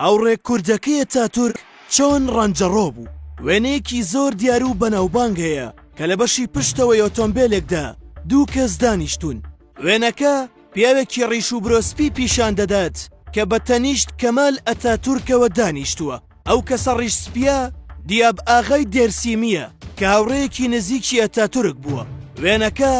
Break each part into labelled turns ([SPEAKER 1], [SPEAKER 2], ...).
[SPEAKER 1] هاوڕێ کوردەکەی ئەتاتورک چۆن ڕەنجەڕۆ بوو؟ وێنەیەکی زۆر دیار و بەناوبانگ هەیە کە لە بەشی پشتەوەی ئۆتۆمبێلێکدا دوو کەس دانیشتوون. وێنەکە پیاوێکی ڕیش و برۆ سپی پیشان دەدات کە بە تەنیشت کەمال ئەتاتورکەوە دانیشتووە. ئەو کەسە ڕیش سپییە دیاب ئاغای دێرسیمییە کە هاوڕێیەکی نزیکی ئەتاتورک بووە. وێنەکە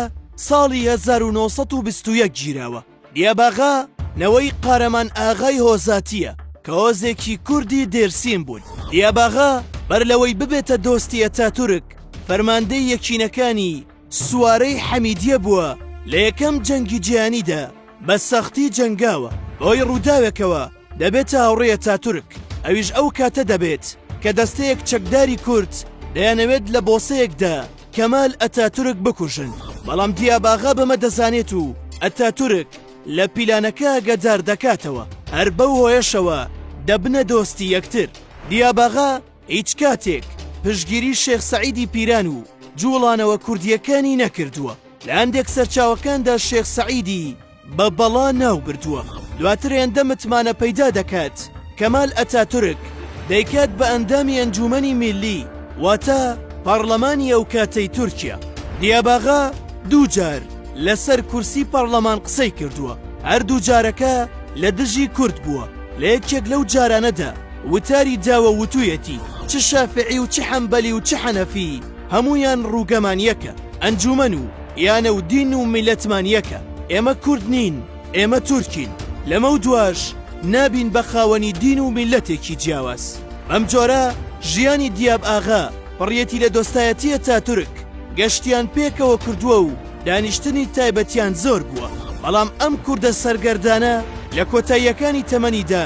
[SPEAKER 1] ساڵی هەزار و نۆ سەد و بیست و یەک گیراوە. دیاباغا نەوەی قارەمان ئاغای هۆزاتییە کە هۆزێکی کوردی دێرسیم بوون. دیاباغا بەر لەوەی ببێتە دۆستی ئەتاتورک، فەرماندەی یەکینەکانی سوارەی حەمیدیە بووە، لە یەکەم جەنگی جیهانیدا بە سەختی جەنگاوە، بەهۆی ڕووداوێکەوە دەبێتە هاوڕێی ئەتاتورک، ئەویش ئەو کاتە دەبێت کە دەستەیەک چەکداری کورد دەیانەوێت لە بۆسەیەکدا کەمال ئەتاتورک بکوژن بەڵام دیاباغا بەمە دەزانێت و ئەتاتورک لە پیلانەکە ئەگەدار دەکاتەوە هەر بەو هۆیەشەوە دەبنە دۆستی یەکتر دیاباغا هیچ کاتێک پشگیری شێخ سەعیدی پیران و جوڵانەوە کوردیەکانی نەکردووە لە هەندێک سەرچاوەکاندا شێخ سەعیدی بە بەڵا ناو بردووە دواتر هێندە متمانە پەیدا دەکات کەمال ئەتاتورک دەیکات بە ئەندامی ئەنجومەنی میلی واتە پەڕلەمانی ئەو کاتەی تورکیا دیاباغا دووجار لەسەر کورسی پەڕلەمان قسەی کردووە هەردوو جارەکە لە دژی کورد بووە لە یەکێک لەو جارانەدا وتاری داوە وتویەتی چ شافعی و چ حەمبەلی و چ حەنەفی هەموویان ڕووگەمان یەکە ئەنجومەن و یانە و دین و میلەتمان یەکە ئێمە کورد نین ئێمە تورکین لەمە و دواش نابین بە خاوەنی دین و میلەتێکی جیاواز بەم جۆرە ژیانی دیاب ئاغا پڕیەتی لە دۆستایەتی ئەتاتورک گەشتیان پێکەوە کردووە و دانیشتنی تایبەتیان زۆر بووە بەڵام ئەم کوردە سەرگەردانە لە کۆتاییەکانی تەمەنیدا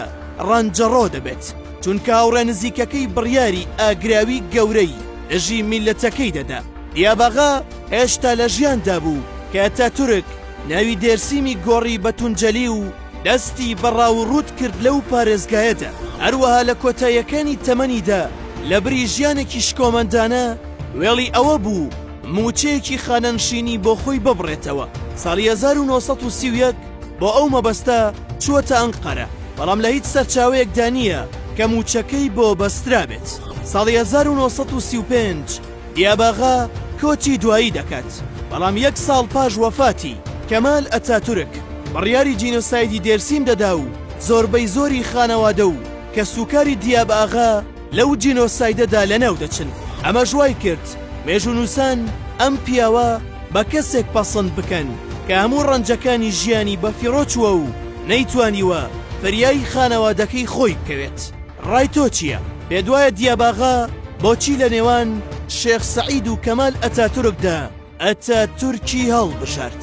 [SPEAKER 1] ڕەنجەڕۆ دەبێت چونکە هاوڕێ نزیکەکەی بڕیاری ئاگراوی گەورەی دژی میللەتەکەی دەدا. یاباغا هێشتا لە ژیاندا بوو کە ئەتاتورک ناوی دێرسیمی گۆڕی بە تونجەلی و دەستی بە ڕاووڕووت کرد لەو پارێزگایەدا. هەروەها لە کۆتاییەکانی تەمەنیدا لە بری ژیانێکی شکۆمەندانە وێڵی ئەوە بوو مووچەیەکی خانەنشینی بۆ خۆی ببڕێتەوە. ساڵی هەزار و نۆ سەد و سی و یەک بۆ ئەو مەبەستە چووەتە ئەنقەرە، بەڵام لە هیچ سەرچاوەیەکدا نییە کە مووچەکەی بۆ بەسترابێت. ساڵی هەزار و نۆ سەد و سی و پێنج دیاباغا کۆچی دوایی دەکات، بەڵام یەک ساڵ پاش وەفاتی کەمال ئەتاتورک بڕیاری جینۆسایدی دێرسیم دەدا و زۆربەی زۆری خانەوادە و کەسوکاری دیاباغا لەو جینۆسایدەدا لەناو دەچن. ئەمەش وای کرد مێژوونووسان ئەم پیاوە بە کەسێک پەسند بکەن کە هەموو ڕەنجەکانی ژیانی بەفیڕۆ چووە و نەیتوانیوە فریای خانەوادەکەی خۆی بکەوێت. ڕای تۆ چییە؟ پێتوایە دیاباغا بۆچی لە نێوان شێخ سەعید و کەمال ئەتاتورکدا ئەتاتورکی هەڵبژارد؟